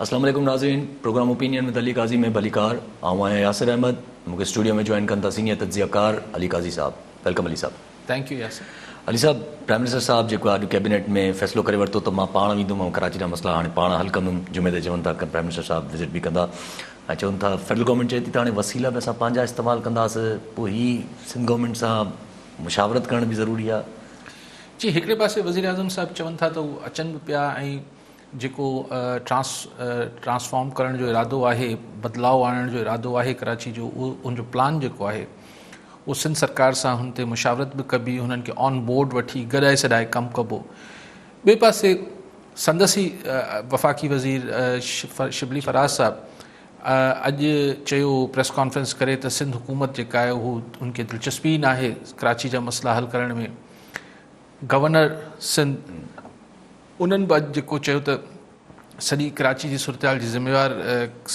السلام عليڪم ناظرين programme opinion with Ali Qazi ۾ ڀليڪار آئون آهيان ياسر احمد مون کي اسٽوڊيو ۾ جوائن ڪن ٿا سينيئر تجزيه ڪار علي قاضي صاحب ويلڪم علي صاحب. Thank you Yasir. علي صاحب پرائم منسٽر صاحب جيڪو اڄ ڪيبينيٽ ۾ فيصلو ڪري ورتو ته مان پاڻ ويندم ۽ ڪراچي جا مسئلا هاڻي پاڻ حل ڪندم جمعي تي چون ٿا پرائم منسٽر صاحب وزٽ به ڪندا ۽ چون ٿا فيڊرل گورنمينٽ چئي ٿي ته هاڻي وسيلا به اسان پنهنجا استعمال ڪنداس پوء هي سنڌ گورنمينٽ سان مشاورت ڪرڻ به ضروري آهي جي هڪڙي پاسي وزيراعظم صاحب چون ٿا ته هو اچن به پيا ۽ جيڪو ٽرانس ٽرانسفارم ڪرڻ جو ارادو آهي بدلاء آڻڻ جو ارادو آهي ڪراچي جو اهو ان جو پلان جيڪو آهي اهو سنڌ سرڪار سان هن تي مشاورت به ڪبي هنن کي آن بورڊ وٺي گڏائي سڏائي ڪم ڪبو ٻئي پاسي سندس ئي وفاقي وزير شبلي فراز صاحب اڄ چيو پريس ڪانفرنس ڪري ته سنڌ حڪومت جيڪا آهي هو ان کي دلچسپي نه آهي ڪراچي جا مسئلا حل ڪرڻ ۾ گورنر سنڌ انهن به اڄ جيڪو چيو ته سڄي ڪراچي جي صورتحال جي ذميوار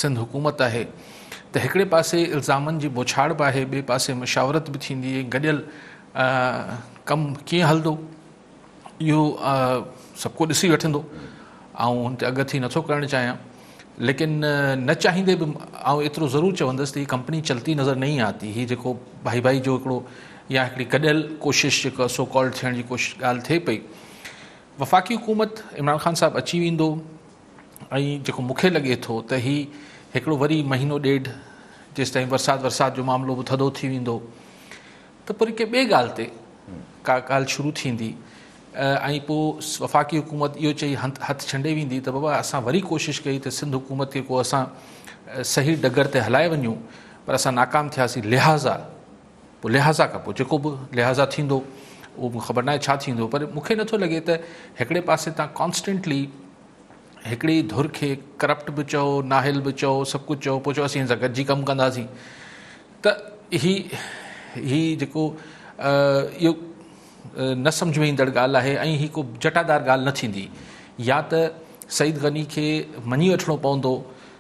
سنڌ حڪومت آهي ته هڪڙي پاسي الزامن جي بوڇاڙ به آهي ٻئي پاسي مشاورت به ٿيندي ۽ گڏيل ڪم ڪيئن هلندو اهو سڀ ڪو ڏسي وٺندو آئون هن تي اگهه ٿي نٿو ڪرڻ چاهيان ليڪن نه چاهيندي به آئون ايترو ضرور چوندس ته هي ڪمپني چلتي نظر نه ايندي آتي هي جيڪو ڀائي ڀائي جو هڪڙو يا هڪڙي گڏيل ڪوشش جيڪا سو ڪالڊ ٿيڻ جي ڪوشش ڳالهه ٿئي پئي وفاقي حڪومت عمران خان صاحب اچي ويندو ۽ جيڪو مونکي لڳي ٿو ته هي هڪڙو وري مهينو ڏيڍ جيستائين ورسات ورسات جو معاملو به ٿڌو ٿي ويندو ته پوري ڪنهن ٻي ڳالهه تي ڪا ڳالهه شروع ٿيندي ۽ پوء وفاقي حڪومت اهو چئي هٿ ڇنڊي ويندي ته بابا اسان وري ڪوشش ڪئي ته سنڌ حڪومت کي ڪو اسان صحيح ڊگر تي هلائي وڃون پر اسان ناڪام ٿياسين لهٰذا پوء لحاظا کان پوء جيڪو به لحاظا ٿيندو اهو مون کي خبر ناهي ڇا ٿيندو پر مون کي نٿو لڳي ته هڪڙي پاسي تان ڪانسٽنٽلي هڪڙي ڌر کي ڪرپٽ به چئو ناهل به چئو سڀ ڪجهه چئو پوء چئو اسين هن سان گڏجي ڪم ڪنداسين ته هي هي جيڪو اهو نه سمجھ ۾ ايندڙ ڳالهه آهي ۽ هي ڪو جٽادار ڳالهه نه ٿيندي يا ته سعيد غني کي مڃي وٺڻو پوندو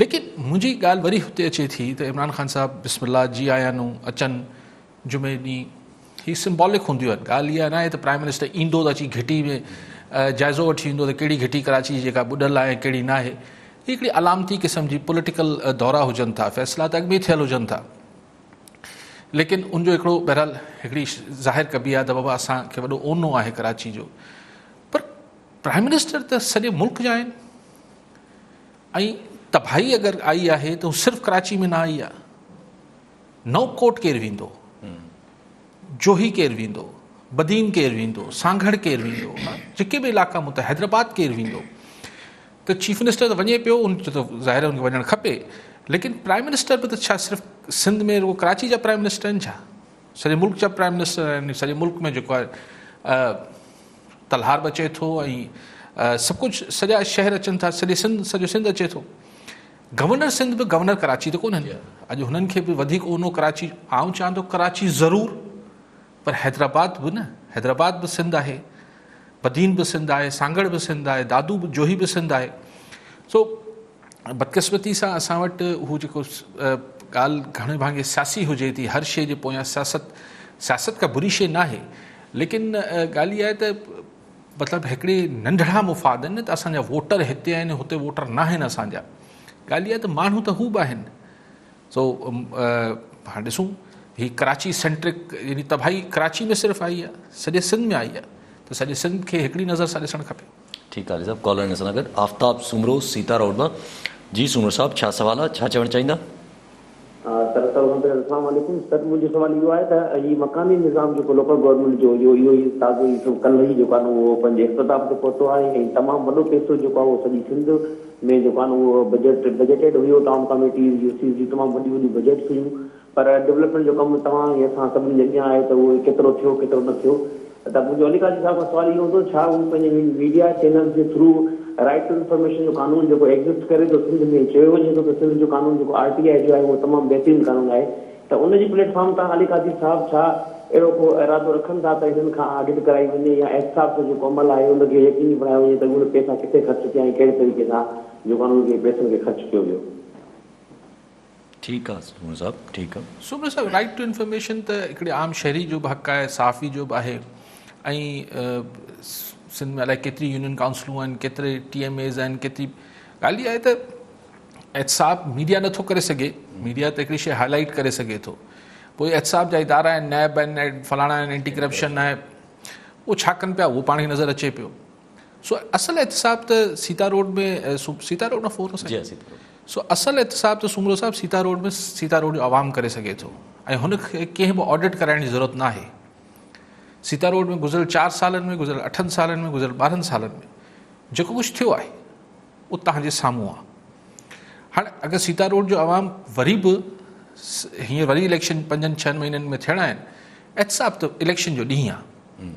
ليڪن منهنجي ڳالهه وري هتي اچي ٿي ته عمران خان صاحب بسم الله جي آيا نون اچن جمعي ڏينهن هي سمبالڪ هونديون آهن ڳالهه اها ناهي ته پرائم منسٽر ايندو ته اچي گهٽي ۾ جائزو وٺي ويندو ته ڪهڙي گهٽي ڪراچي جي جيڪا ٻڏل آهي ڪهڙي ناهي هي هڪڙي علامتي قسم جي پوليٽيڪل دورا هجن ٿا فيصلا ته اڳ ۾ ٿيل هجن ٿا ليڪن ان جو هڪڙو بهرحال هڪڙي ظاهر ڪبي آهي ته بابا اسان کي وڏو اونو آهي ڪراچي جو پر پرائم منسٽر ته سڄي ملڪ جا آهن ۽ تباهي اگر آئي آهي ته صرف ڪراچي ۾ نه آئي آهي نئون ڪوٽ ڪير ويندو جوهي ڪير ويندو بدين ڪير ويندو سانگهڙ ڪير ويندو جيڪي به علائقا متحد حيدرآباد ڪير ويندو تو چيف منسٹر تو ونجي پيو ان تو ظاهر ان ونجن کپي لیکن پرائم منسٹر به تو چا صرف سندھ ۾ رو کراچي جا پرائم منسٹر ان چا ساري ملڪ جا پرائم منسٹر ان ساري ملڪ ۾ جو کو ڪلهار به اچي ٿو ۽ سڀ ڪجهه سڄا شهر اچن ٿا سڄي سنڌ سڄو سنڌ اچي ٿو گورنر سنڌ به گورنر ڪراچي ته ڪونهن اڄ هنن کي به وڌيڪ اونو ڪراچي آئون چاهيان ٿو ڪراچي ضرور پر حيدرآباد به نه حيدرآباد به سنڌ آهي بدين به سنڌ آهي سانگڙ به سنڌ آهي دادو به جوهي به سنڌ آهي سو بدقسمتي سان اسان وٽ هو جيڪو ڳالهه گهڻي ڀاڱي سياسي هجي ٿي، هر شيء جي پويان سياست، سياست ڪا بري شيء ناهي، ليڪن ڳالهه اها آهي ته مطلب هڪڙي ننڍڙا مفاد آهن نه ته اسان جا ووٽر هتي آهن هتي ووٽر ناهن اسان جا، ڳالهه اها آهي ته ماڻهو ته هو به آهن سو هاڻ ڏسون هي ڪراچي سينٽرڪ يعني تباهي ڪراچي ۾ صرف آئي آهي، سڄي سنڌ ۾ آئي آهي ته سڄي سنڌ کي هڪڙي نظر سان ڏسڻ کپي. ٺيڪ آ علي صاحب ڪالر ان سان گڏ آفتاب سومرو سيتا روڊ مان جي سومرو صاحب ڇا سوال آ ڇا چوڻ چاهيندا. سر سر اوکان پهريان اسلام عليڪم سر منهنجو سوال اهو آهي ته هي مڪاني نظام جيڪو لوڪل گورنمينٽ جو اهو اهو ئي تازو ئي سو ڪلهه ئي جيڪو آهي نه اهو پنهنجي اختتام تي پهتو آهي ۽ تمام وڏو پئسو جيڪو آهي اهو سڄي سنڌ ۾ جيڪو آهي نه اهو بجيٽ بجيٽيڊ هيو ٽائون ڪاميٽيز يو سيز جون تمام وڏيون وڏيون بجيٽس هيون پر ڊولپمينٽ جو ڪم توهان ۽ اسان سڀني جي اڳيان آهي ته اهو ڪيترو ٿيو ڪيترو نه ٿيو ته منهنجو علي قاضي صاحب کان سوال اهو هوندو ڇا هو پنهنجي ميڊيا چينلز جي ٿرو رائيٽ ٽو انفارميشن جو قانون جيڪو ايگزسٽ ڪري ٿو سنڌ ۾ چيو وڃي ٿو ته سنڌ جو قانون جيڪو آر ٽي آء جو آهي اهو تمام بهترين قانون آهي ته ان جي پليٽ فارم تان علي قاضي صاحب ڇا اهڙو ڪو ارادو رکن ٿا ته هنن کان آڊٽ ڪرائي وڃي يا احتساب جو جيڪو عمل آهي ان کي يقيني بڻايو وڃي ته اهي پيسا ڪٿي خرچ ٿيا ۽ ڪهڙي طريقي سان جيڪو انهن کي پيسن کي خرچ ڪيو ويو. ٺيڪ آ سومرو صاحب ٺيڪ آ. سومرو صاحب رائيٽ ٽو انفارميشن ته هڪڙي عام شهري جو به حق آهي صحافي جو به آهي ۽ سنڌ ۾ الائي ڪيتري يونين ڪائونسلون آهن ڪيتري ٽي ايم ايز آهن ڪيتري ڳالهه اها آهي ته احتساب ميڊيا نٿو ڪري سگهي ميڊيا ته هڪڙي شيء هاء لائيٽ ڪري سگهي ٿو پوء احتساب جا ادارا آهن نيب آهن فلاڻا آهن اينٽي ڪرپشن آهي اهو ڇا ڪن پيا اهو پاڻ کي نظر اچي پيو سو اصل احتساب ته سيتا روڊ ۾ سيتا روڊ مان فور جي سيتا روڊ سو اصل احتساب ته سومرو صاحب سيتا روڊ ۾ سيتا روڊ جو عوام ڪري سگهي ٿو ۽ هن کي ڪنهن به آڊٽ ڪرائڻ جي ضرورت نه آهي سيتا روڊ ۾ گذريل چار سالن ۾ گذريل اٺن سالن ۾ گذريل ٻارهن سالن ۾ جيڪو ڪجهه ٿيو آهي اهو تهان جي سامهون آهي هاڻي اگر سيتا روڊ جو عوام وري به هينئر وري اليڪشن پنجن ڇهن مهينن ۾ ٿيڻا آهن احتساب ته اليڪشن جو ڏينهن آهي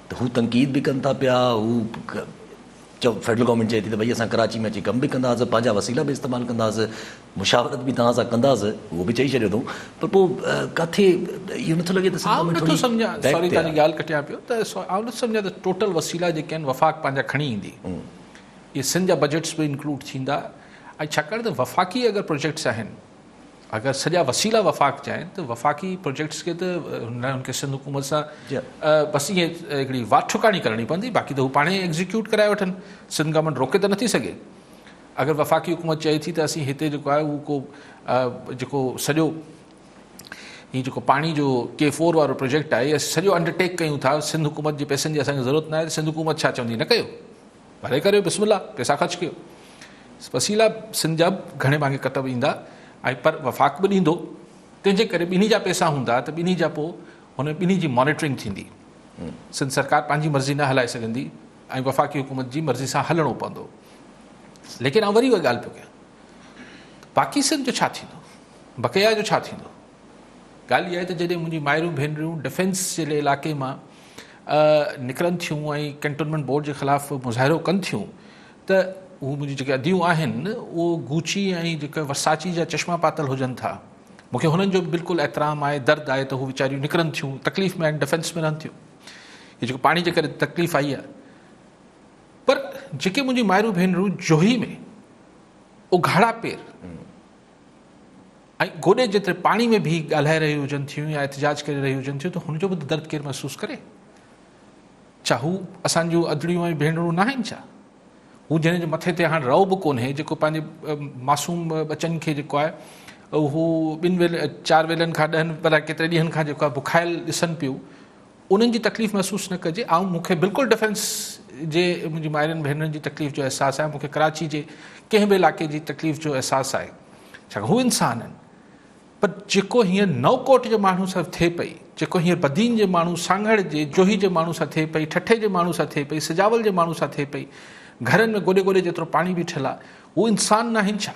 ته هو تنقيد به ڪن ٿا پيا، هو فيڊرل گورنمينٽ چئي ٿي ته ڀئي اسان ڪراچي ۾ اچي ڪم به ڪنداسين، پنهنجا وسيلا به استعمال ڪنداسين، مشاورت به توهان سان ڪنداسين، اهو به چئي ڇڏيو اٿئون، پر پوء ڪاٿي اهو نٿو لڳي ته سنڌ ۾ ٿوري بيڪ تي آ. آئون نٿو سمجهان، سوري تنهنجي ڳالهه ڪٽيان پيو، ته آئون نٿو سمجهان ته ٽوٽل وسيلا جيڪي آهن وفاق پنهنجا کڻي ايندي، اهي سنڌ جا بجيٽس به انڪلوڊ ٿيندا ۽ ڇاڪاڻ ته وفاقي اگر پروجيڪٽس آهن اگر سڄا وسيلا وفاق جا آهن ته وفاقي پروجيڪٽس کي ته هن کي سنڌ حڪومت سان بس ائين هڪڙي واٽ ٺڪاڻي ڪرڻي پوندي باقي ته هو پاڻ ئي ايگزيڪيوٽ ڪرائي وٺن سنڌ گورنمينٽ روڪي ته نٿي سگهي اگر وفاقي حڪومت چئي ٿي ته اسين هتي جيڪو آهي اهو ڪو جيڪو سڄو هي جيڪو پاڻي جو ڪي فور وارو پروجيڪٽ آهي سڄو انڊرٽيڪ ڪيون ٿا سنڌ حڪومت جي پيسن جي اسانکي ضرورت نه آهي سنڌ حڪومت ڇا چوندي نه ڪيو ڀلي ڪريو بسم الله پئسا خرچ ڪيو وسيلا سنڌ جا به گهڻي ڀاڱي ڪٽ به ايندا ۽ پر وفاق به ڏيندو تنهن جي ڪري ٻنهي جا پئسا هوندا ته ٻنهي جا پوء هن ٻنهي جي مانيٽرنگ ٿيندي سنڌ سرڪار پنهنجي مرضي نه هلائي سگهندي ۽ وفاقي حڪومت جي مرضي سان هلڻو پوندو ليڪن آء وري اها ڳالهه پيو ڪيان باقي سنڌ جو ڇا ٿيندو بقيا جو ڇا ٿيندو ڳالهه اها آهي ته جڏهن منهنجي مائرون ڀينريون ڊفينس جي علائقي مان نڪرن ٿيون ۽ ڪينٽونمينٽ بورڊ جي خلاف مظاهرو ڪن ٿيون ته هو منهنجي جيڪي اديون آهن اهو گوچي ۽ جيڪي ورساچي جا چشما پاتل هجن ٿا مون کي هنن جو به بلڪل احترام آهي درد آهي ته هو ويچاريون نڪرن ٿيون تڪليف ۾ آهن ڊفينس ۾ رهن ٿيون هي جيڪو پاڻي جي ڪري تڪليف آئي آهي پر جيڪي منهنجي مائرون ڀينرون جوهي ۾ اگهاڙا پير ۽ گوڏي جيتري پاڻي ۾ بيهي ڳالهائي رهيون هجن ٿيون يا احتجاج ڪري رهيون هجن ٿيون ته هن جو به ته درد ڪير محسوس ڪري؟ ڇا هو اسان جون ادڙيون ۽ ڀينرون ناهن ڇا؟ هو جنهن جي مٿي تي هاڻ رئو به ڪونهي جيڪو پنهنجي معصوم ٻچن کي جيڪو آهي اهو ٻن ويل چار ويلن کان ڏهن الاء ڪيتري ڏينهن کان جيڪو آهي بکايل ڏسن پيون انهن جي تڪليف محسوس نه ڪجي آئون مون کي بلڪل ڊفينس جي منهنجي مائرن ڀينرن جي تڪليف جو احساس آهي مون کي ڪراچي جي ڪنهن به علاقي جي تڪليف جو احساس آهي ڇاڪاڻ هو انسان آهن پر جيڪو هينئر نو ڪوٽ جي ماڻهو سان ٿئي پئي جيڪو هينئر بدين جي ماڻهو سانگهڙ جي جوهي جي ماڻهو سان ٿئي پئي ٺٽي جي ماڻهو سان ٿئي پئي سجاول جي ماڻهو سان ٿئي پئي گهرن ۾ گوڏي گوڏي جيترو پاڻي بيٺل آهي هو انسان ناهن ڇا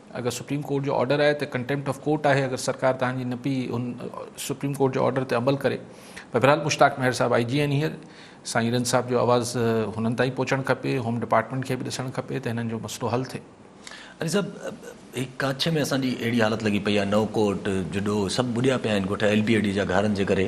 اگر سپريم ڪورٽ جو آرڊر آهي ته ڪنٽيمپٽ آف ڪورٽ آهي اگر سرڪار توهان جي نه پئي ان سپريم ڪورٽ جي آرڊر تي عمل ڪري بهرحال مشتاق مهر صاحب آئي جي آهن هينئر سائين رند صاحب جو آواز هنن تائين پهچڻ کپي هوم ڊپارٽمينٽ کي به ڏسڻ کپي ته هنن جو مسئلو حل ٿئي علي صاحب هي ڪاڇي ۾ اسان جي اهڙي حالت لڳي پئي آهي نو ڪورٽ جڊو سڀ ٻڏيا پيا آهن ڳوٺ ايل بي اي ڊي جا گهارن جي ڪري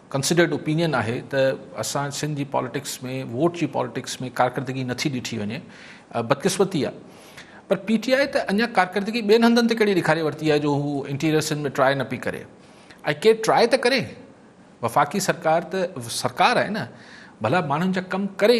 ڪنسڊرڊ اوپينين آهي ته اسان سنڌ جي پاليٽڪس ۾ ووٽ جي پاليٽڪس ۾ ڪارڪردگي نٿي ڏٺي وڃي بدقسمتي آهي پر پي ٽي آء ته اڃا ڪارڪردگي ٻين هنڌن تي ڪهڙي ڏيکاري ورتي آهي جو هو انٽيريئر سنڌ ۾ ٽرائي نه پئي ڪري ۽ ڪير ٽرائي ته ڪري وفاقي سرڪار ته سرڪار آهي نه ڀلا ماڻهن جا ڪم ڪري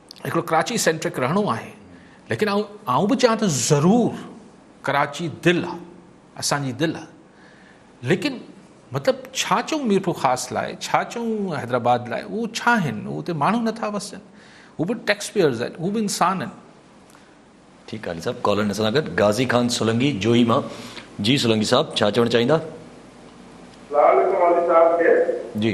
هڪڙو ڪراچي سينٽرڪ رهڻو آهي ليڪن آئون آئون به چاهيان ته ضرور ڪراچي دل آ اسان جي دل آ ليڪن مطلب ڇا چون ميرپور خاص لاء ڇا چون حيدرآباد لاء اهو ڇا آهن اهو اتي ماڻهو نٿا وسن هو به ٽيڪس پيئرز آهن هو به انسان آهن ٺيڪ آهي صاحب ڪالر اسان سان گڏ غازي خان سولنگي جوهي مان جي سولنگي صاحب ڇا چوڻ چاهيندا السلام عليڪم والي صاحب کي جي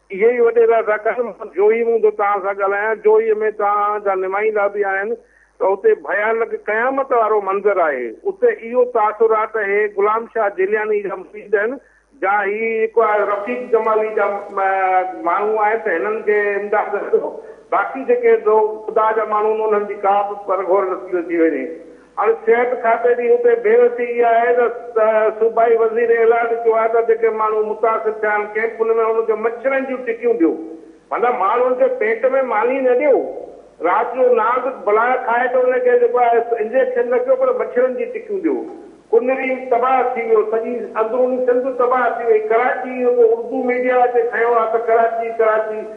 اهي ئي وڏيرا ٿا ڪن. مان جوهي مون ٿو توهان سان ڳالهايان. جوهي ۾ توهان جا نمائندا به آهن ته اتي ڀيانڪ قيامت وارو منظر آهي. اتي اهو تاثر آهي ته هي غلام شاهه جيلياني جا مريد آهن جا هي رفيق جمالي جا ماڻهو آهن ته هنن کي امداد ڏيو. باقي جيڪي خدا جا ماڻهو آهن انهن جي ڪابه پرگهور نصيب ٿي وڃي. هاڻ صحت کاتي جي اتي بي وسي اها آهي ته صوبائي وزير اعلان ڪيو آهي ته جيڪي ماڻهو متاثر ٿيا آهن ڪئمپن ۾ انهن کي مڇرن جون ٽڪيون ڏيو معنيٰ ماڻهن کي پيٽ ۾ ماني نه ڏيو رات جو نانگ بلاء کائي ته ان کي جيڪو آهي انجيڪشن نه ڪيو پر مڇرن جي ٽڪيون ڏيو ڪنري تباهه ٿي ويو سڄي اندروني سنڌ تباهه ٿي وئي ڪراچي جيڪو اردو ميڊيا اتي کنيو آهي ته ڪراچي ڪراچي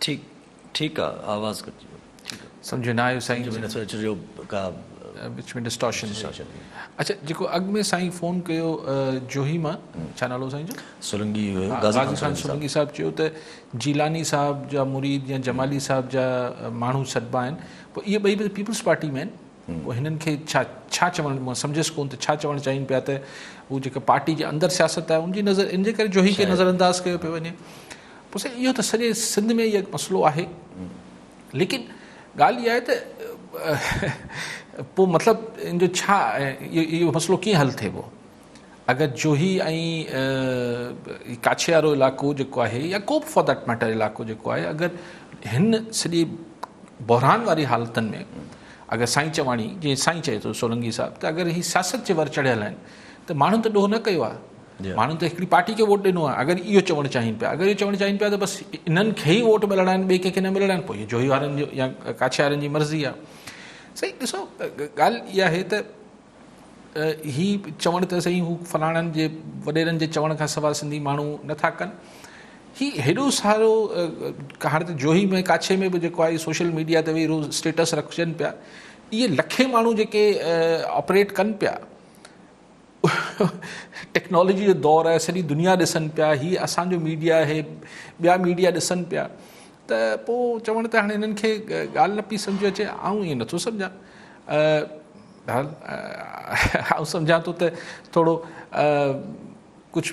ٺيڪ ٺيڪ آ آواز گهٽ جي ويو ٺيڪ سمجهه نه آيو سائين. سمجهه ۾ نٿو اچي جو ڪا. وچ ۾ ڊسٽارشن ٿي اچي. اڇا جيڪو اڳ ۾ سائين فون ڪيو جوهي مان ڇا نالو هو سائين جو؟ سرنگي هيو غازي خان سرنگي صاحب چيو ته جيلاني صاحب جا مريد يا جمالي صاحب جا ماڻهو سڏبا آهن پوء اهي ٻئي به پيپلز پارٽي ۾ آهن پوء هنن کي ڇا ڇا چوڻ مان سمجهيس ڪون ته ڇا چوڻ چاهين پيا ته هو جيڪا پارٽي جي اندر سياست آهي ان جي نظر ان جي ڪري جوهي کي نظر انداز ڪيو پيو وڃي پوء سائين اهو ته سڄي سنڌ ۾ اهو مسئلو آهي ليڪن ڳالهه اها آهي ته پوء مطلب ان جو ڇا اهو مسئلو ڪيئن حل ٿيبو اگر جوهي ۽ ڪاڇي وارو علائقو جيڪو آهي يا ڪو به فار ديٽ ميٽر علائقو جيڪو آهي اگر هن سڄي بحران واري حالتن ۾ اگر سائين چواڻي جي سائين چئي ٿو سولنگي صاحب ته اگر هي سياست جي ور چڙهيل آهن ته ماڻهن ته ڏوهه نه ڪيو آهي ماڻهن ته هڪڙي پارٽي کي ووٽ ڏنو آهي اگر اهو چوڻ چاهين پيا اگر اهو چوڻ چاهين پيا ته بس انهن کي ئي ووٽ ملڻا آهن ٻئي ڪنهن کي نه ملڻا آهن پوء جوهي وارن جو يا ڪاڇي وارن جي مرضي آهي سائين ڏسو ڳالهه اها آهي ته هي چوڻ ته سائين هو فلاڻن جي وڏيرن جي چوڻ کان سواء سنڌي ماڻهو نٿا ڪن هي هيڏو سارو هاڻي ته جوهي ۾ ڪاڇي ۾ به جيڪو آهي سوشل ميڊيا تي ويهي روز اسٽيٽس رکجن پيا اهي لکين ماڻهو جيڪي آپريٽ ڪن پيا ٽيڪنالاجي جو دور آهي سڄي دنيا ڏسن پيا هي اسان جو ميڊيا آهي ٻيا ميڊيا ڏسن پيا ته پوء چوڻ ته هاڻي هنن کي ڳالهه نه پئي سمجھ اچي آئون ائين نٿو سمجھان بهرحال آئون سمجھان ٿو ته ٿورو ڪجھ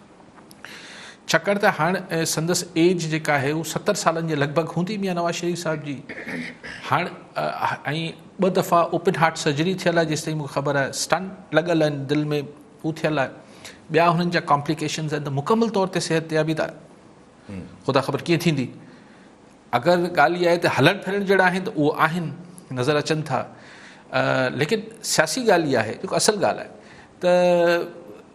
ڇاڪاڻ ته هاڻ سندس ايج جيڪا آهي هو ستر سالن جي لڳ ڀڳ هوندي ميان نواز شريف صاحب جي هاڻ ۽ ٻه دفعا اوپن هارٽ سرجري ٿيل آهي جيستائين مونکي خبر آهي اسٽنٽ لڳل آهن دل ۾ هو ٿيل آهي ٻيا هنن جا ڪامپليڪيشنز آهن ته مڪمل طور تي صحت تيابي ته خدا خبر ڪيئن ٿيندي اگر ڳالهه اها آهي ته هلڻ ڦرڻ جهڙا آهن ته اهو آهن نظر اچن ٿا ليڪن سياسي ڳالهه اها آهي جيڪو اصل ڳالهه آهي ته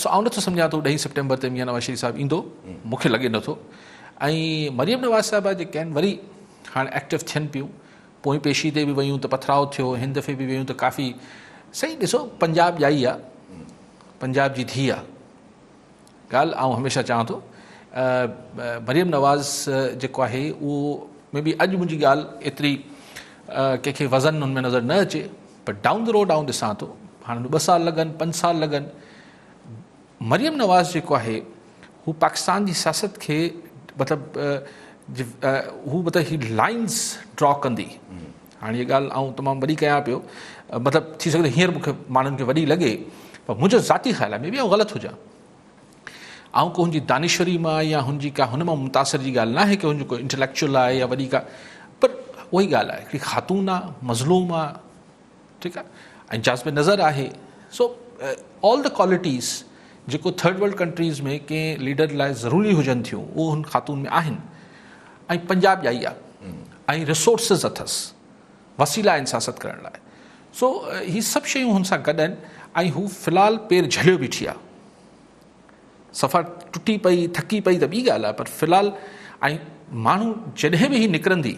سو آئون نٿو سمجهان ته ڏهين سيپٽمبر تي ميان نواز شريف صاحب ايندو مون کي لڳي نٿو ۽ مريم نواز صاحبه جيڪي آهن وري هاڻي ايڪٽو ٿين پيون پوئين پيشي تي به ويون ته پٿراو ٿيو هن دفعي به ويون ته ڪافي سائين ڏسو پنجاب ڄائي آ پنجاب جي ڌي آ ڳالهه آئون هميشه چوان ٿو مريم نواز جيڪو آهي اهو مي بي اڄ منهنجي ڳالهه ايتري ڪنهن کي وزن هن ۾ نظر نه اچي پر ڊائون دي روڊ آئون ڏسان ٿو هاڻي ٻه سال لڳن پنج سال لڳن مريم نواز جيڪو آهي هو پاڪستان جي سياست کي مطلب هو مطلب هي لائنس ڊرا ڪندي هاڻي هيء ڳالهه آئون تمام وڏي ڪيان پيو، مطلب ٿي سگهي ٿو هينئر مون کي ماڻهن کي وڏي لڳي، پر منهنجو ذاتي خيال آهي، مي بي آئون غلط هجان. آئون ڪو هن جي دانشوري مان يا هن جي ڪا هن مان متاثر جي ڳالهه ناهي ڪي هن جو ڪو انٽليڪچوئل آهي يا وڏي ڪا پر اهو ئي ڳالهه آهي هڪڙي خاتون آهي، مظلوم آهي، ٺيڪ آهي، ۽ جاذب نظر آهي، سو آل دي ڪوالٽيز جيڪو ٿرڊ ورلڊ ڪنٽريز ۾ ڪنهن ليڊر لاء ضروري هجن ٿيون اهو هن خاتون ۾ آهن. ۽ پنجاب جا ئي آ ۽ رسورسز اٿس وسيلا آهن سياست ڪرڻ لاء سو هي سڀ شيون هن سان گڏ آهن ۽ هو في الحال پير جهليو بيٺي آ صفا ٽٽي پئي ٿڪي پئي ته ٻي ڳالهه آ پر في الحال ۽ ماڻهو جڏهن به هي نڪرندي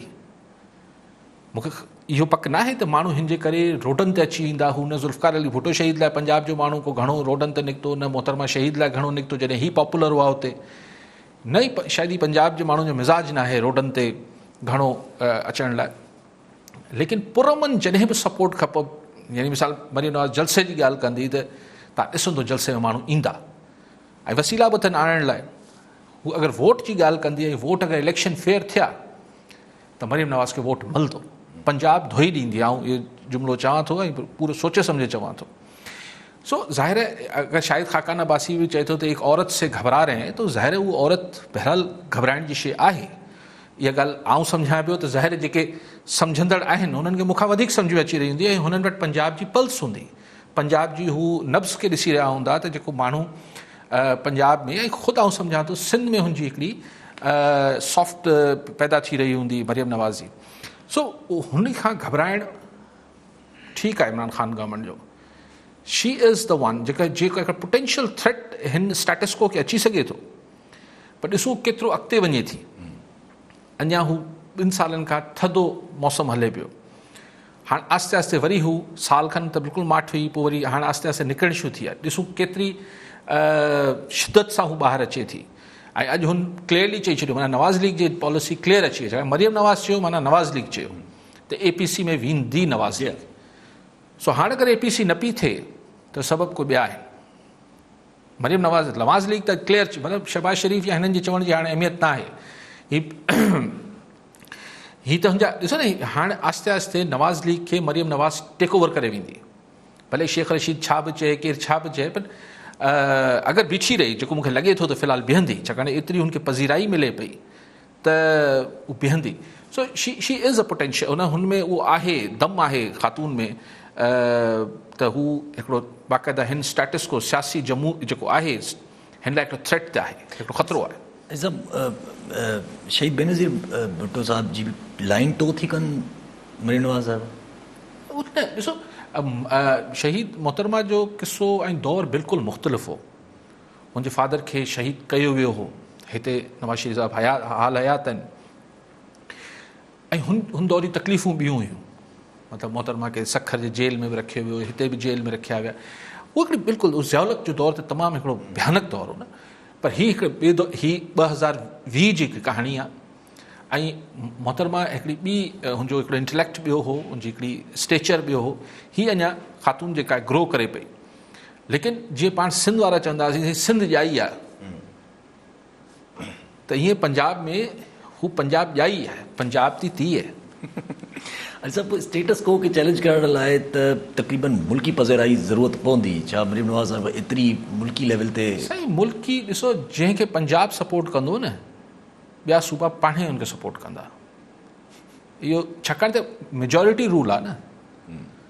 مون کي اهو پڪ نه آهي ته ماڻهو هن جي ڪري روڊن تي اچي ويندا هو نه ذوالفقار علي ڀٽو شهيد لاء پنجاب جو ماڻهو ڪو گهڻو روڊن تي نڪتو نه محترمه شهيد لاء گهڻو نڪتو جڏهن هي پاپولر هئا اتي نه ئي شايد هي پنجاب جي ماڻهن جو مزاج ناهي روڊن تي گهڻو اچڻ لاء ليڪن پر امن جڏهن به سپورٽ کپ يعني مثال مريم نواز جلسي جي ڳالهه ڪندي ته تان ڏسندو جلسي ۾ ماڻهو ايندا ۽ وسيلا به اٿن آڻڻ لاء هو اگر ووٽ جي ڳالهه ڪندي ۽ ووٽ اگر اليڪشن فيئر ٿيا ته مريم نواز کي ووٽ ملندو، پنجاب ڌوئي ڏيندي، آئون اهو جملو چوان ٿو ۽ پورو سوچي سمجهي چوان ٿو. سو ظاهر آهي اگر شاهد خاقان عباسي به چئي ٿو ته ايڪ عورت سي گهبرا رهي هين تو ظاهر آهي اها عورت بهرحال گهبرائڻ جي شيء آهي. اها ڳالهه آئون سمجهان پيو ته ظاهر آهي جيڪي سمجهندڙ آهن انهن کي مون کان وڌيڪ سمجهه ۾ اچي رهي هوندي ۽ هنن وٽ پنجاب جي پلس هوندي. پنجاب جي هو نبض کي ڏسي رهيا هوندا ته جيڪو ماڻهو پنجاب ۾ ۽ خود آئون سمجهان ٿو سنڌ ۾ هن جي هڪڙي سافٽ پيدا ٿي رهي هوندي مريم نواز جي سو هن کان گهبرائڻ ٺيڪ آهي عمران خان گورنمنٽ جو شي از دا ون جيڪا جيڪا هڪڙا پوٽينشل ٿريٽ هن اسٽيٽسڪو کي اچي سگهي ٿو پر ڏسو ڪيترو اڳتي وڃي ٿي اڃا هو ٻن سالن کان ٿڌو موسم هلي پيو هاڻ آهستي آهستي وري هو سال کن ته بلڪل ماٺ هئي پوء وري هاڻ آهستي آهستي نڪرڻ شروع ٿي آهي ڏسون ڪيتري شدت سان هو ٻاهر اچي ٿي ۽ اڄ هن ڪليئرلي چئي ڇڏيو معنيٰ نواز ليگ جي پاليسي ڪليئر اچي وئي مريم نواز چيو معنيٰ نواز ليگ چيو ته اي پي سي ۾ ويندي نواز ليگ سو هاڻ اگر اي پي سي نه پي ٿئي ته سبب ڪو ٻيا آهن مريم نواز نواز ليگ ته ڪليئر مطلب شهباز شريف يا هنن جي چوڻ جي هاڻي اهميت نه آهي هي ته هنجا ڏسو نه هاڻي آهستي آهستي نواز ليگ کي مريم نواز ٽيڪ اوور ڪري ويندي ڀلي شيخ رشيد ڇا به چئي ڪير ڇا به چئي پر اگر بيٺي رهي جيڪو مونکي لڳي ٿو ته في الحال بيهندي ڇاڪاڻ ايتري هن کي پذيرائي ملي پئي ته هو بيهندي سو شي شي از ا پوٽينشل ان هن ۾ اهو آهي دم آهي خاتون ۾ ته هو هڪڙو باقاعده هن اسٽيٽس ڪو سياسي جمهور جيڪو آهي هن لاء هڪڙو ٿريٽ آهي، هڪڙو خطرو آهي. اسم شهيد بينظير ڀٽو صاحب جي لائين ٽو ٿي ڪن مري نواز صاحب. ڏسو شهيد محترمه جو قصو ۽ دور بلڪل مختلف هو هن جي فادر کي شهيد ڪيو ويو هو هتي نواز شريف صاحب حيات حال حيات آهن ۽ هن دور جون تڪليفون ٻيون هيون مطلب محترمه کي سکر جي جيل ۾ به رکيو ويو هتي به جيل ۾ رکيا ويا اهو هڪڙي بلڪل ضياء الحق جو دور ته تمام هڪڙو ڀيانڪ دور هو نه پر هي هڪڙي ٻي دور هي ٻه هزار ويهه جي هڪ ڪهاڻي آهي ۽ محترمه هڪڙي ٻي هن جو هڪڙو انٽليڪٽ ٻيو هو هن جي هڪڙي اسٽيچر ٻيو هو هي اڃا خاتون جيڪا گرو ڪري پئي ليڪن جيئن پاڻ سنڌ وارا چوندا هئاسين سنڌ ڄائي آهي ته هيئن پنجاب ۾ هو پنجاب ڄائي آهي، پنجاب تي ٿي اهي. حاجي صاحب اسٽيٽس ڪو کي چئلينج ڪرڻ لاء ته تقريبن ملڪي پذيرائي جي ضرورت پوندي، ڇا مريم نواز صاحب ايتري ملڪي ليول تي. سائين ملڪي ڏسو جنهن کي پنجاب سپورٽ ڪندو نه ٻيا صوبا پاڻهي ان کي سپورٽ ڪندا اهو ڇاڪاڻ ته ميجارٽي رول آهي نه.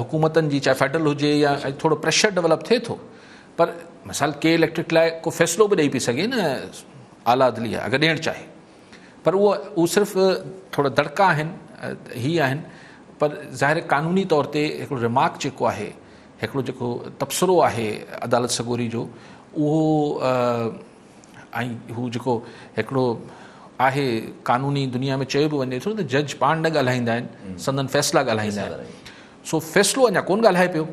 حڪومتن جي چاهي فيڊرل هجي يا ٿورو پريشر ڊولپ ٿئي ٿو پر مثال ڪي اليڪٽرڪ لاء ڪو فيصلو به ڏئي پئي سگهي نه اعليٰ عدليه اگر ڏيڻ چاهي پر اهو اهو صرف ٿورا دڙڪا آهن هي آهن پر ظاهر قانوني طور تي هڪڙو رمارڪ جيڪو آهي هڪڙو جيڪو تبصرو آهي عدالت سڳوري جو اهو ۽ هو جيڪو هڪڙو آهي قانوني دنيا ۾ چيو به وڃي ٿو ته جج پاڻ نه ڳالهائيندا آهن سندن فيصلا ڳالهائيندا آهن سو فيصلو اڃا ڪون ڳالهائي پيو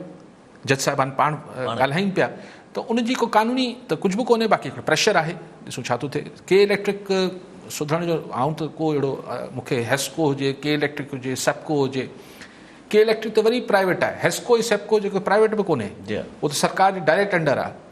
جج صاحبان پاڻ ڳالهائين پيا ته ان جي ڪو قانوني ته ڪجھ به ڪونهي باقي پريشر آهي ڏسون ڇا ٿو ٿئي ڪي اليڪٽرڪ سڌرڻ جو آئون ته ڪو اهڙو مون کي هيسڪو هجي ڪي اليڪٽرڪ هجي سپڪو هجي ڪي اليڪٽرڪ ته وري پرائيويٽ آهي هيسڪو سپڪو جيڪو پرائيويٽ به ڪونهي جي. ته سرڪار جي ڊائريڪٽ انڊر آهي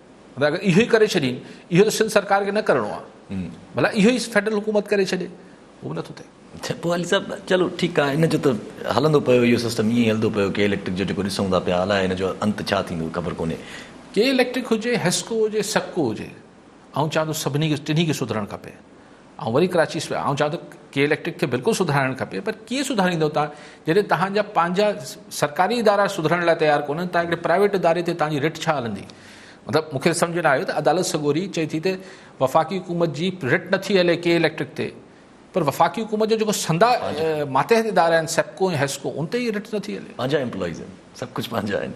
هن اگر اهو ئي ڪري ڇڏين، اهو ته سنڌ سرڪار کي نه ڪرڻو آ، ڀلا اهو ئي فيڊرل حڪومت ڪري ڇڏي، اهو به نٿو ٿئي. اڇا پوء علي صاحب چلو ٺيڪ آ هن جو ته هلندو پيو اهو سسٽم ائين ئي هلندو پيو ڪي اليڪٽرڪ جو جيڪو ڏسون ٿا پيا الاء هن جو انت ڇا ٿيندو خبر ڪونهي. ڪي اليڪٽرڪ هجي، حيسڪو هجي، سيپڪو هجي آئون چاهيان ٿو سڀني کي ٽنهي کي سڌرڻ کپي آئون وري ڪراچيء ويس. آئون چوان ٿو ڪي اليڪٽرڪ کي بلڪل سڌرائڻ کپي پر ڪيئن سڌرائيندؤ تان جڏهن تهان جا پنهنجا سرڪاري ادارا سڌرڻ لاء تيار ڪونهن تان هڪڙي پرائيويٽ اداري تي تهان جي رٽ ڇا هلندي مطلب مون کي سمجهه نه آيو ته عدالت سڳوري چئي ٿي ته وفاقي حڪومت جي رٽ نٿي هلي ڪي اليڪٽرڪ تي پر وفاقي حڪومت جو جيڪو سندا ماتحت ادارا آهن سيپڪو ۽ هيسڪو ان تي ئي رٽ نٿي هلي پنهنجا امپلائيز آهن سڀ ڪجهه پنهنجا آهن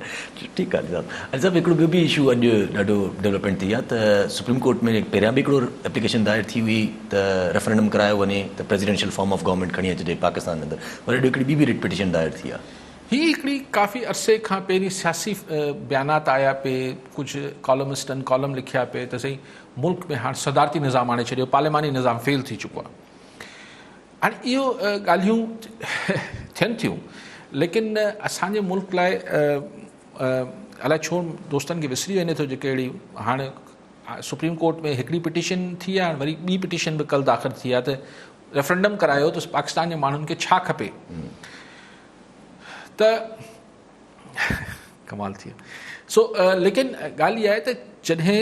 ٺيڪ آهي علي صاحب. علي صاحب هڪڙو ٻيو به اشو اڄ ڏاڍو ڊولپمينٽ ٿي آ ته سپريم ڪورٽ ۾ پهريان به هڪڙو ايپليڪيشن دائر ٿي هئي ته ريفرنڊم ڪرايو وڃي ته پريزيڊنشل فارم آف گورنمينٽ کڻي اچجي پاڪستان جي اندر وري اڄ هڪڙي ٻي به رٽ پٽيشن دائر ٿي آ. هي هڪڙي ڪافي عرصي کان پهرين سياسي بيانات آيا پي ڪجهه ڪالمسٽن ڪالم لکيا پي ته سائين ملڪ ۾ هاڻ صدارتي نظام آڻي ڇڏيو پارلياماني نظام فيل ٿي چڪو آ. هاڻي اهو ڳالهيون ٿين ٿيون ليڪن اسان جي ملڪ لاء الاء ڇو دوستن کي وسري وڃي ٿو جيڪي اهڙي هاڻ سپريم ڪورٽ ۾ هڪڙي پٽيشن ٿي آهي وري ٻي پٽيشن به ڪل داخل ٿي آهي ته ريفرنڊم ڪرايو ته پاڪستان جي ماڻهن کي ڇا کپي ته ڪمال ٿي سو ليڪن ڳالهه اها آهي ته جڏهن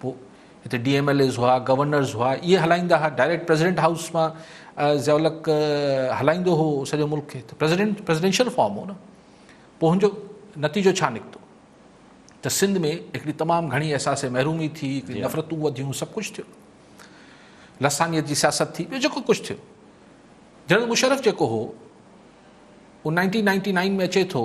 پوء هتي ڊي ايم ايل ايز هئا، گورنرز هئا، اهي هلائيندا هئا، ڊائريڪٽ پريزيڊنٽ هائوس مان ضياء الحق هلائيندو هو سڄو ملڪ کي ته پريزيڊنٽ پريزيڊنشل فارم هو نه پوء هن جو نتيجو ڇا نڪتو ته سنڌ ۾ هڪڙي تمام گهڻي احساس محرومي ٿي، هڪڙي جي. نفرتون وڌيون، سڀ ڪجهه ٿيو. لسانيت جي سياست ٿي، ٻيو جيڪو ڪجهه ٿيو. جنرل مشرف جيڪو هو، هو نائنٽين نائنٽي نائن ۾ اچي ٿو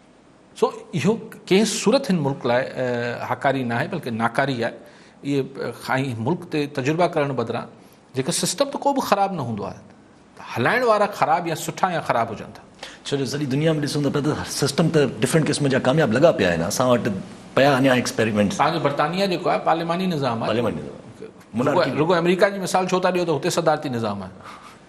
سو اهو ڪنهن صورت هن ملڪ لاء هاڪاري ناهي بلڪه ناڪاري آهي اهي کائي ملڪ تي تجربا ڪرڻ بدران جيڪو سسٽم ته ڪو به خراب نه هوندو آهي هلائڻ وارا خراب يا سٺا يا خراب هجن ٿا ڇو جو سڄي دنيا ۾ ڏسون ته پيا ته سسٽم ته ڊفرنٽ قسم جا ڪامياب لڳا پيا آهن اسان وٽ پيا اڃا ايڪسپيريمينٽس تان جو برطانيا جيڪو آهي پارليماني نظام آهي پارليماني نظام رڳو آمريڪا جي مثال ڇو ٿا ڏيو ته هتي صدارتي نظام آهي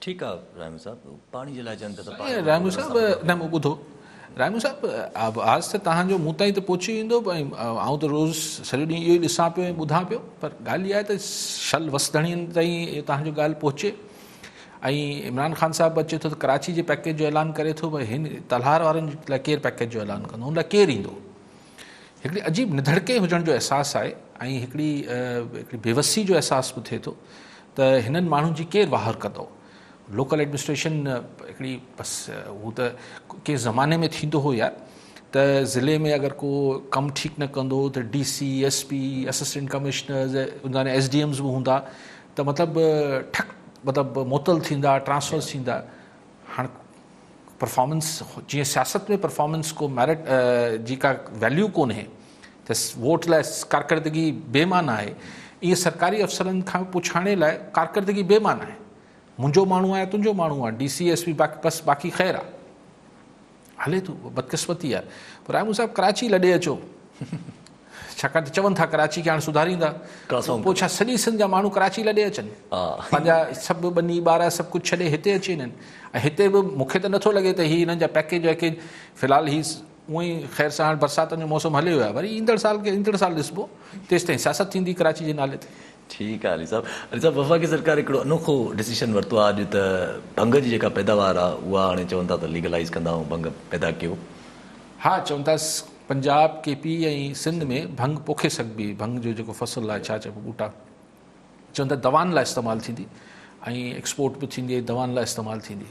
ٺيڪ آ رحيم صاحب پاڻي جي لاء چون پيا ته پاڻي رحيم صاحب نه مون ٻڌو رحيم صاحب آواز ته تهان جو مون تائين ته پهچي ويندو ۽ آئون ته روز سڄو ڏينهن اهو ئي ڏسان پيو ۽ ٻڌان پيو پر ڳالهه اها آهي ته شل وس ڌڻين تائين تهان جو ڳالهه پهچي ۽ عمران خان صاحب به اچي ٿو ته ڪراچي جي پيڪيج جو اعلان ڪري ٿو بھي هن تلهار وارن لاء ڪير پيڪيج جو اعلان ڪندو ان لاء ڪير ايندو هڪڙي عجيب نڌڙڪي هجڻ جو احساس آهي ۽ هڪڙي هڪڙي بيوسي جو احساس به ٿئي ٿو ته هنن ماڻهن جي ڪير واهر ڪندو؟ لوڪل ايڊمنسٽريشن هڪڙي بس هو ته ڪنهن زماني ۾ ٿيندو هو يار ته ضلعي ۾ اگر ڪو ڪم ٺيڪ نه ڪندو ته D C S P assistant commissioners ان ايس ڊي ايمز به هوندا ته مطلب ٺڪ مطلب معطل ٿيندا ٽرانسفرز ٿيندا هاڻ پرفارمنس جيئن سياست ۾ پرفارمنس ڪو ميرٽ جي ڪا ويليو ڪونهي ته ووٽ لاء ڪارڪردگي بي معنيٰ آهي، ائين سرڪاري افسرن کان پڇاڻي لاء ڪارڪردگي بي معنيٰ آهي. منهنجو ماڻهو آ يا تنهنجو ماڻهو آ، ڊي سي ايس پي بس باقي خير آ. هلي ٿو، بدقسمتي آ. پر رحمان صاحب ڪراچي لڏي اچو. ڇاڪاڻ ته چون ٿا ڪراچي کي هاڻ سڌاريندا. پوء ڇا سڄي سنڌ جا ماڻهو ڪراچي لڏي اچن؟ پنهنجا سڀ ٻني ٻارا سڀ ڪجهه ڇڏي هتي اچي وڃن. ۽ هتي به مون کي ته نٿو لڳي ته هي هنن جا پيڪيج ويڪيج في الحال هي اونئن ئي خير سان هاڻ برساتن جو موسم هليو ويو آهي وري ايندڙ سال کي ايندڙ سال ڏسبو تيستائين سياست ٿيندي ڪراچي جي نالي تي. ٺيڪ آ علي صاحب. علي صاحب وفاقي سرڪار هڪڙو انوکو ڊسيشن ورتو آ اڄ ته ڀنگ جي جيڪا پيداوار آ اها هاڻي چون ٿا ته ليگلائيز ڪندا ۽ ڀنگ پيدا ڪيو. ها چون ٿا پنجاب ڪي پي ۽ سنڌ ۾ ڀنگ پوکي سگهبي ڀنگ جو جيڪو فصل آ ڇا چئبو ٻوٽا چون ٿا دوائن لاء استعمال ٿيندي ۽ ايڪسپورٽ به ٿيندي ۽ دوائن لاء استعمال ٿيندي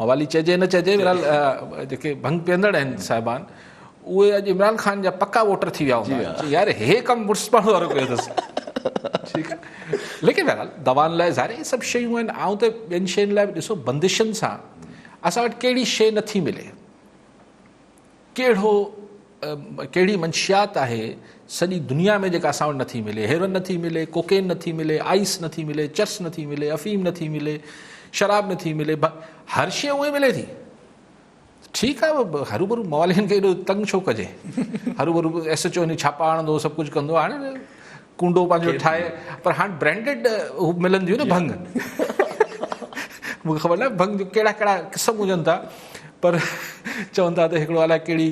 موالي چئجي نه چئجي بھرحال جيڪي ڀنگ پيئندڙ آھن صاحبان اھي اڄ عمران خان جا پڪا ووٽر ٿي ويا ھوندا يار ھي ڪم مڙس پاڻ وارو ڪيو اٿس ٺيڪ آھي ليڪن بھرحال دوان لاء ظاھر ھي سڀ شيون آھن آئون ته ٻين شين لاء به ڏسو بندشن سان اسان وٽ ڪھڙي شي نٿي ملي ڪهڙو ڪهڙي منشيات آهي سڄي دنيا ۾ جيڪا اسان وٽ نه ٿي ملي هيروئن نه ٿي ملي ڪوڪين نه ٿي ملي آئيس نه ٿي ملي چرس نه ٿي ملي افيم نه ٿي ملي شراب نه ٿي ملي هر شي اهي ملي ٿي ٺيڪ آهي هرو ڀرو موالين کي ايڏو تنگ ڇو ڪجي هرو ڀرو ايس ايچ او ڇاپا هڻندو سڀ ڪجهه ڪندو هاڻي ڪونڊو پنهنجو ٺاهي پر هاڻ برانڊيڊ ملنديون نه ڀنگ مون کي خبر نه ڀنگ جو ڪهڙا ڪهڙا قسم هجن ٿا پر چون ٿا ته هڪڙو الائي ڪهڙي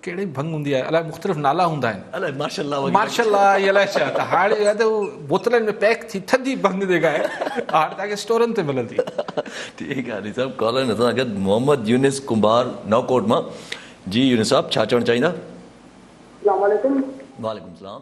ڪهڙي ڀنگ هوندي آهي الائي مختلف نالا هوندا آهن الائي مارشل لا مارشل لا يا الائي ڇا ته هاڻي يا ته بوتلن ۾ پيڪ ٿي ٿڌي ڀنگ جيڪا آهي هاڻ تان کي اسٽورن تي ملندي ٺيڪ آهي علي صاحب ڪالر نه سان گڏ محمد يونس ڪنڀار نو ڪوٽ مان جي يونس صاحب ڇا چوڻ چاهيندا السلام عليڪم وعليڪم السلام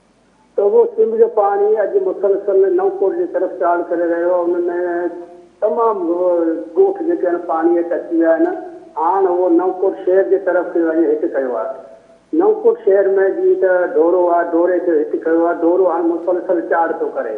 توبو سنڌ جو پاڻي اڄ مسلسل نئونڪوٽ جي طرف چاڙهه ڪري رهيو آهي ان ۾ تمام ڳوٺ جيڪي آهن پاڻي هيٺ اچي ويا آهن هاڻ اهو نئونڪوٽ شهر جي طرف کي وڃي هيٺ ڪيو آهي نئونڪوٽ شهر ۾ جيئن ته ڍورو آهي ڍوري کي هيٺ ڪيو آهي ڍورو هاڻ مسلسل چاڙهه ٿو ڪري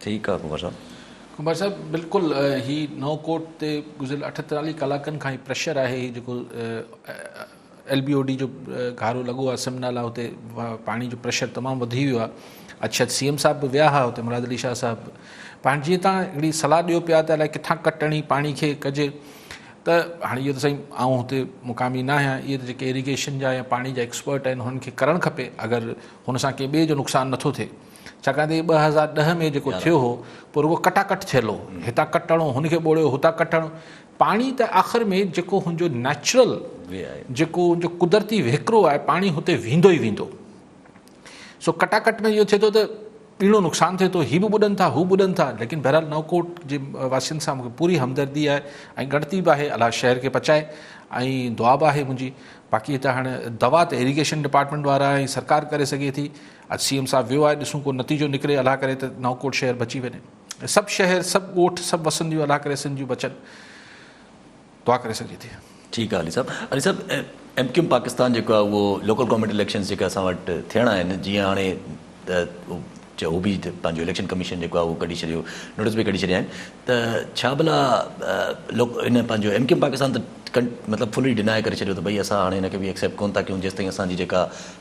ٺيڪ آ قمبر صاحب. قمبر صاحب بلڪل هي نئون ڪوٽ تي گذريل اٺتاليهه ڪلاڪن کان هي پريشر آهي هي جيڪو ايل بي او ڊي جو گهارو لڳو آ سم نالا هتي پاڻي جو پريشر تمام وڌي ويو آ اڇت سي ايم صاحب به ويا ها هتي مراد علي شاهه صاحب پاڻ جي تان هڪڙي صلاح ڏيو پيا ته الائي ڪٿان ڪٽ اڻي پاڻي کي ڪجي ته هاڻي اهو ته سائين آئون هتي مقامي نه آهيان اهي ته جيڪي ايريگيشن جا يا پاڻي جا ايڪسپرٽ آهن هنن کي ڪرڻ کپي اگر هن سان ڪنهن ٻئي جو نقصان نٿو ٿئي ڇاڪاڻ ته هي ٻه هزار ڏهه ۾ جيڪو ٿيو هو پوء رڳو ڪٽا ڪٽ ٿيل هو هتان ڪٽڻو هن کي ٻوڙيو هتان ڪٽڻو پاڻي ته آخر ۾ جيڪو هن جو نيچرل جيڪو هن جو قدرتي وهڪرو آهي پاڻي هتي ويندو ئي ويندو سو ڪٽا ڪٽ ۾ اهو ٿئي ٿو ته ٻيڻو نقصان ٿئي ٿو هي به ٻڏن ٿا هو ٻڏن ٿا ليڪن بهرحال نوڪوٽ جي واسين سان مونکي پوري همدردي آهي ۽ ڳڻتي به آهي الله شهر کي پچائي ۽ دعا به آهي منهنجي باقي هتان هاڻي دوا ته ايريگيشن ڊپارٽمنٽ وارا ۽ سرڪار ڪري سگهي ٿي اڄ سي ايم صاحب ويو آهي ڏسون ڪو نتيجو نڪري الله ڪري ته نئونڪوٽ شهر بچي وڃي سڀ شهر سڀ ڳوٺ سڀ وسنديون الله ڪري سنڌ جون بچن دعا ڪري سگهجي ٿي ٺيڪ آهي علي صاحب علي صاحب ايم ڪيم پاڪستان جيڪو آهي اهو لوڪل گورنمينٽ اليڪشنز جيڪا اسان وٽ ٿيڻا آهن جيئن هاڻي چيو هو به پنهنجو اليڪشن ڪميشن جيڪو آهي اهو ڪڍي ڇڏيو نوٽس به ڪڍي ڇڏيا آهن ته ڇا ڀلا هن پنهنجو ايم ڪيم پاڪستان ته مطلب فلي ڊناء ڪري ڇڏيو ته ڀئي اسان هاڻي هن کي به ايڪسيپٽ ڪون ٿا ڪيون جيستائين اسانجي جيڪا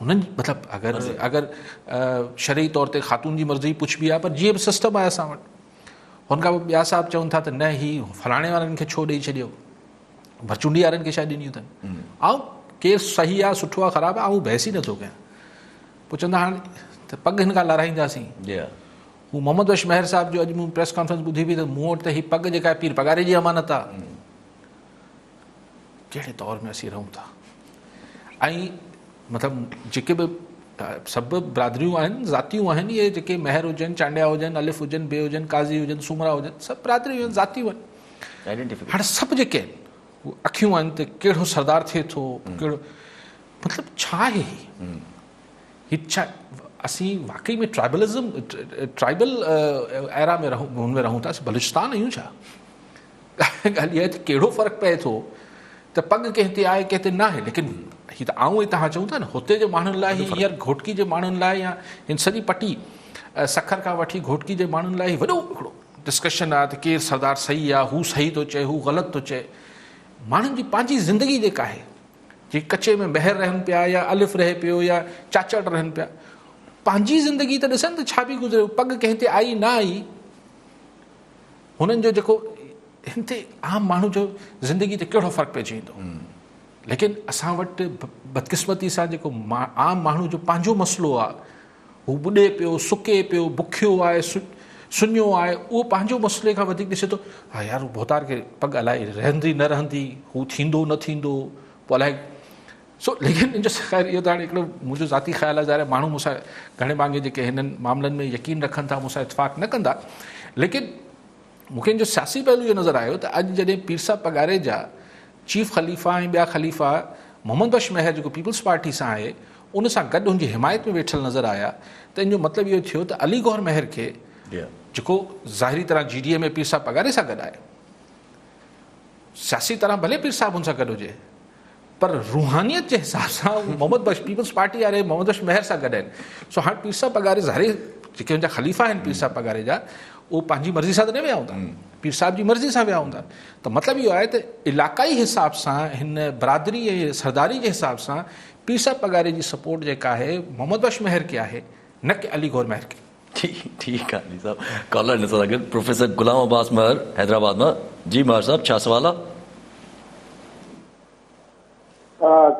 هنن جي مطلب اگر اگر شرعي طور تي خاتون جي مرضي پڇبي آهي پر جيئن به سسٽم آهي اسان وٽ هن کان پوء ٻيا صاحب چون ٿا ته نه هي فلاڻي وارن کي ڇو ڏيئي ڇڏيو ڀرچونڊي وارن کي شايد ڏنيون اٿن آئون ڪير صحيح آهي سٺو آهي خراب آهي آئون بحث ئي نٿو ڪيان پوء چوندا هاڻ ته پڳ هن کان لارائينداسين هو محمد بخش مهر صاحب جو اڄ مون پريس ڪانفرنس ٻڌي پئي ته مون وٽ ته هي پڳ جيڪا پير پگاري جي امانت آهي ڪهڙي دور ۾ اسين رهون ٿا ۽ مطلب جيڪي به سڀ برادريون آهن ذاتيون آهن اهي جيڪي مهر هجن چانڊيا هجن الف هجن بي هجن قاضي هجن سومرا هجن سڀ برادريون آهن ذاتيون آهن هاڻ سڀ جيڪي آهن هو اکيون آهن ته ڪهڙو سردار ٿئي ٿو ڪهڙو مطلب ڇا آهي هي ڇا اسين واقعي ۾ ٽرائبلزم ٽرائبل ايرا ۾ رهون هن ۾ رهون ٿا اسين بلوچستان آهيون ڇا ڳالهه اها آهي ته ڪهڙو فرق پئي ٿو ته پڳ ڪنهن تي آهي ڪنهن تي نه آهي ليڪن هي ته آئون ۽ توهان چئون ٿا نه هتي جي ماڻهن لاء هي هينئر گهوٽڪي جي ماڻهن لاء يا هن سڄي پٽي سکر کان وٺي گهوٽڪي جي ماڻهن لاء هي وڏو هڪڙو ڊسڪشن آهي ته ڪير سردار صحيح آهي هو صحيح ٿو چئي هو غلط ٿو چئي ماڻهن جي پنهنجي زندگي جيڪا آهي جي ڪچي ۾ مهر رهن پيا يا الف رهي پيو يا چاچڙ رهن پيا پنهنجي زندگي ته ڏسن ته ڇا بي گذريو پڳ ڪنهن تي آئي نه آئي هنن جو جيڪو هن تي عام ماڻهو جو زندگي تي ڪهڙو فرق پئجي ويندو ليڪن اسان وٽ بدقسمتي سان جيڪو عام ماڻهو جو پنهنجو مسئلو آهي هو ٻڏي پيو سڪي پيو بکيو آهي سڃو آهي اهو پنهنجو مسئلي کان وڌيڪ ڏسي ٿو ها يار هو بوتار کي پڳ الائي رهندي نه رهندي هو ٿيندو نه ٿيندو پوء الائي سو ليڪن ان جو خير اهو ته هاڻي هڪڙو منهنجو ذاتي خيال آهي ظاهر آهي ماڻهو مون سان گهڻي ڀاڱي جيڪي هنن معاملن ۾ يقين رکن ٿا مون سان اتفاق نه ڪندا ليڪن مون کي ان جو سياسي پهلو اهو نظر آيو ته اڄ جڏهن پير صاحب پگهاري جا چيف خليفا ۽ ٻيا خليفا محمد بخش مهر جيڪو پيپلز پارٽي سان آهي ان سان گڏ ان جي حمايت ۾ ويٺل نظر آيا ته ان جو مطلب اهو ٿيو ته علي گور مهر کي جيڪو ظاهري طرح جي ڊي اي ۾ پير صاحب پگهاري سان گڏ آهي سياسي طرح ڀلي پير صاحب هن سان گڏ هجي پر روحانيت جي حساب سان محمد بخش پيپلز پارٽي واري محمد بخش مهر سان گڏ آهن سو هاڻ پير صاحب پگاري ظاهري جيڪي هن جا خليفا آهن پير صاحب پگاري جا اهو پنهنجي مرضي سان ته نه ويا هوندا پير صاحب جي مرضي سان ويا هوندا ته مطلب اهو آهي ته علاقائي حساب سان هن برادري ۽ سرداري جي حساب سان پير صاحب پگاري جي سپورٽ جيڪا آهي محمد بخش مهر کي آهي نه ڪي علي گور مهر کي ٺيڪ آ علي صاحب ڪالر نه سان گڏ پروفيسر غلام عباس مهر حيدرآباد مان جي مهر صاحب ڇا سوال آ.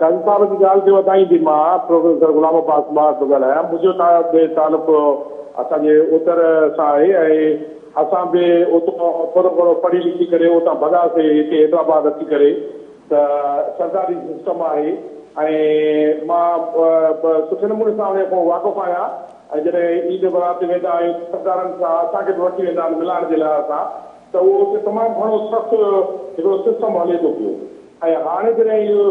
قاضي صاحب جي ڳالهه کي وڌائيندي مان پروفيسر غلام عباس مهر ٿو ڳالهايان منهنجو به تعلق اسان جي اتر سان آهي ۽ اسان به اتان ٿورو گهڻو پڙهي لکي ڪري اتان ڀڳا سي هتي حيدرآباد اچي ڪري ته سرداري سسٽم آهي ۽ مان سٺي نموني سان ان کان واقف آهيان ۽ جڏهن عيد برات تي ويندا آهيون ته سردارن سان اسان کي به وٺي ويندا آهن ملائڻ جي لاء اسان ته اهو اتي تمام گهڻو سخت هڪڙو سسٽم هلي ٿو پيو ۽ هاڻي جڏهن اهو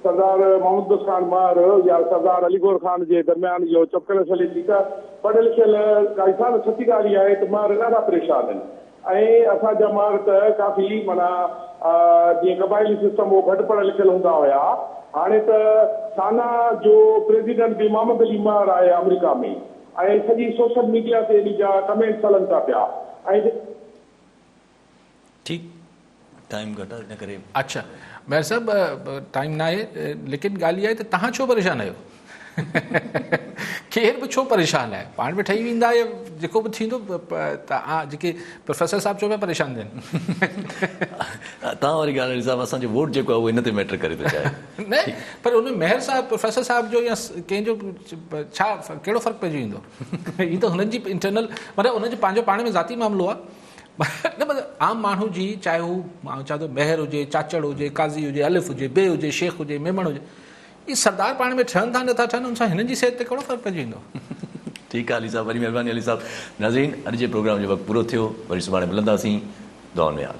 سردار محمد بخش خان مهر يا سردار علي گوهر خان جي درميان اهو چپ ڪلس هلي ٿي ته پڙهيل لکيل ڪا انسان سچي ڳالهه اها آهي ته مهر ڏاڍا پريشان آهن. ۽ اسان جا ماڳ ته ڪافي معنيٰ جيئن قبائلي سسٽم هو گهٽ پڙهيل لکيل هوندا هيا. هاڻي ته سانا جو پريزيڊنٽ به محمد علي مهر آهي آمريڪا ۾ ۽ سڄي سوشل ميڊيا تي انهي جا ڪمينٽس هلن ٿا پيا ۽ ٺيڪ. ٽائيم گهٽ آهي ان ڪري. اڇا مير صاحب ٽائيم ناهي ليڪن ڳالهه اها آهي ته تهان ڇو پريشان آهيو ڪير به ڇو پريشان آهي پاڻ به ٺهي ويندا يا جيڪو به ٿيندو تهان جيڪي پروفيسر صاحب چئو پيا پريشان ٿين تهان واري ڳالهه نيزا اسان جو ووٽ جيڪو آهي اهو ان تي ميٽر ڪري ٿو چاهي نه پر ان مهر صاحب پروفيسر صاحب جو يا ڪنهن جو ڇا ڪهڙو فرق پئجي ويندو هي ته هنن جي انٽرنل مطلب هنن جو پنهنجو پاڻ ۾ ذاتي معاملو آهي نه بس عام ماڻهو جي چاهي هو آئون چوان ٿو مهر هجي چاچڙ هجي قاضي هجي الف هجي بي هجي شيخ هجي ميمڻ هجي هي سردار پاڻ ۾ ٺهن ٿا نٿا ٺهن ان سان هنن جي صحت تي ڪهڙو فرق پئجي ويندو ٺيڪ آهي علي صاحب وڏي مهرباني علي صاحب ناظرين اڄ جي پروگرام جو وقت پورو ٿيو وري سڀاڻي ملنداسين دعائن ۾ ياد.